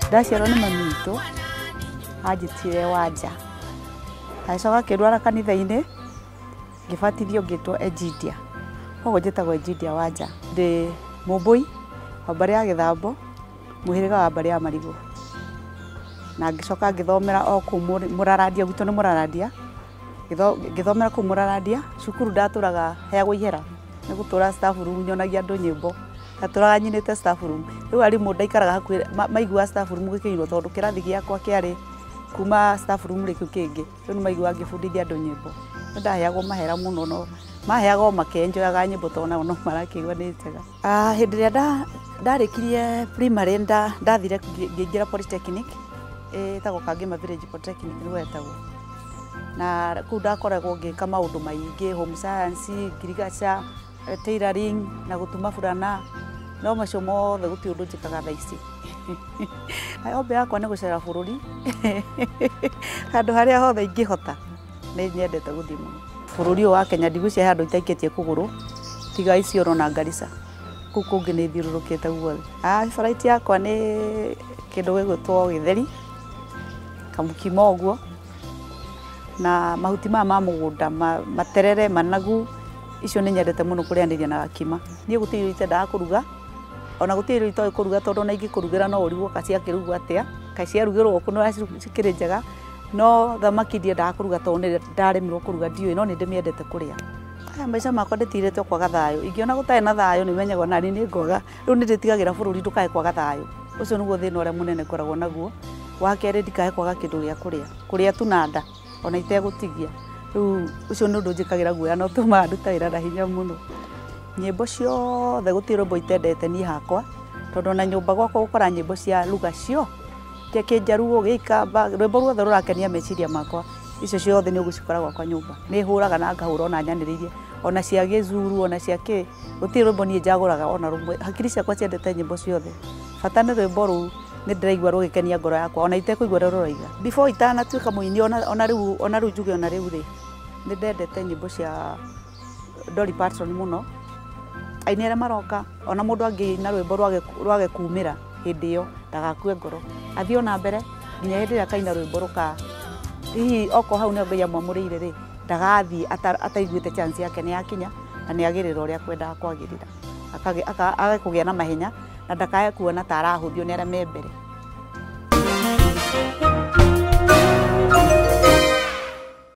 ndaciarwo nĩ mami witũ anjĩtire wanja agĩcoka akĩrwara kanitha-inĩ ngĩbatithio ngĩtwo enjindia koguo njĩtagwo enjindia wanja ndĩ mũmbũi wa mbarĩ ya gĩthambo mũhĩrĩga wa mbarĩ ya marigũ na ngĩcoka ngĩthomera o kũu Mũrarandia gwitũ nĩ Mũrarandia ngĩthomera kũu mũrarandia cukuru ndatũraga heagwo ihera nĩ gũtũra staff room nyonagia andũ nyĩmbo ndatũraga nyinĩte staff room rĩu arimũ ndaikaraga hakuhĩ maiguaga staff room gĩkĩinwo tondũ kĩrathi gĩakwa kĩarĩ kuma staff room rĩ kĩu kĩngĩ rĩu nĩ maiguaga ngĩbundithia andũ nyĩmbo nĩ ndaheagwo mahera mũno no maheaga o makenjoyaga nyĩmbo tondũ onao no marakĩigua nĩ njega. Ah, hĩndĩ ĩrĩa nda- ndarĩkirie primary nda- ndathire ngĩ- ngĩingĩra polytechnic ĩtagwo kangĩma village polytechnic nĩguo yetagwo na kũu ndakoragwo ngĩka maũndũ maingĩ home science ngirigaca eh, tailoring na gũtuma burana no macio mothe gũtirĩ ũndũ njĩkaga thaa ici ombe yakwa nĩ gũcera bũrũri handũ harĩa hothe ingĩhota nĩ nyendete gũthiĩ mũno bũrũri ũyũ wa kenya ndigwĩciria he andũ itaikĩtie kũgũrũ tiga Isiolo na Garissa kũu kũngĩ nĩ thiũrũrũkĩte guothe Ah, flight yakwa nĩ kĩndũ gĩgwĩtwo gĩtheri kamũkimo ũguo na mahuti maya ma mũgũnda ma- materere managu icio nĩ nyendete mũno kũrĩanĩria na gakima niĩ gũtirĩ irio itendaga kũruga ona gũtirĩ irio itoĩ kũruga tondũ ona ingĩkũrugĩra no ũrigwo ka ciakĩrugwo atĩa ka ciarugĩrwo kũ nĩ ũrĩa cikĩrĩ njega no thamaki ndiendaga kũruga tondũ nĩ ndaremirwo kũruga ndiũĩ no nĩ ndĩmĩendete kũrĩa aya maica makwa ndĩtirĩte kwaga thayũ ingĩona gũtarĩ na thayũ nĩ menyaga ona nĩ nĩ ngoga rĩu nĩ ndĩtigagĩra bũrũri ndũkae kwaga thayũ ũcio nĩguo thĩna ũrĩa mũnene ngoragwo naguo wa kerĩ ndikae kwaga kĩndũ gĩa kũrĩa kũrĩa tu na nda ona itegũtigia rĩu ũcio nĩ ũndũ njĩkagĩra guoya na ũtũmaga nduta wĩra na hinya mũno nyĩmbo ciothe gũtirĩ rwĩmbo itendete niĩ hakwa tondũ ona nyũmba gwakwa gũkora nyĩmbo cia ruga cio Kĩa kĩnjaruo, gĩa ikamba, rwĩmbo ruothe rũrakenia meciria makwa, icio ciothe nĩ ũgũcikora gwakwa nyũmba. Nĩ hũraga na ngahũra ona nyanĩrĩirie, ona cia gĩzuru, ona cia kĩ, gũtirĩ rwĩmbo niĩ njagũraga ona rũmwe. Hakiri ciakwa ciendete nyĩmbo ciothe. Bata nĩ rwĩmbo rũu nĩ ndĩraigua rũgĩkenia ngoro yakwa ona itekũigua ũrĩa rũroiga. Before itanatuĩka mũini ona rĩu, ona rĩu njuge ona rĩu rĩ, nĩ ndendete nyĩmbo cia... Dolly Parton mũno, aini arĩa maroka, ona mũndũ angĩina rwĩmbo rwage kumĩra hĩndĩ ĩyo ndagakue ngoro, athiĩ ona mbere nginya hĩndĩ ĩrĩa akaina rwĩmbo rũka, hihi okorwo hau nĩho Ngai amwamũrĩire rĩ, ndagathiĩ ataiguĩte chance yake nĩ yakinya na nĩ agĩrĩra ũrĩa akwendaga kwagĩrĩra, age kũgĩa na mahenya na ndakage kuona ta arahũthio nĩ arĩa me mbere.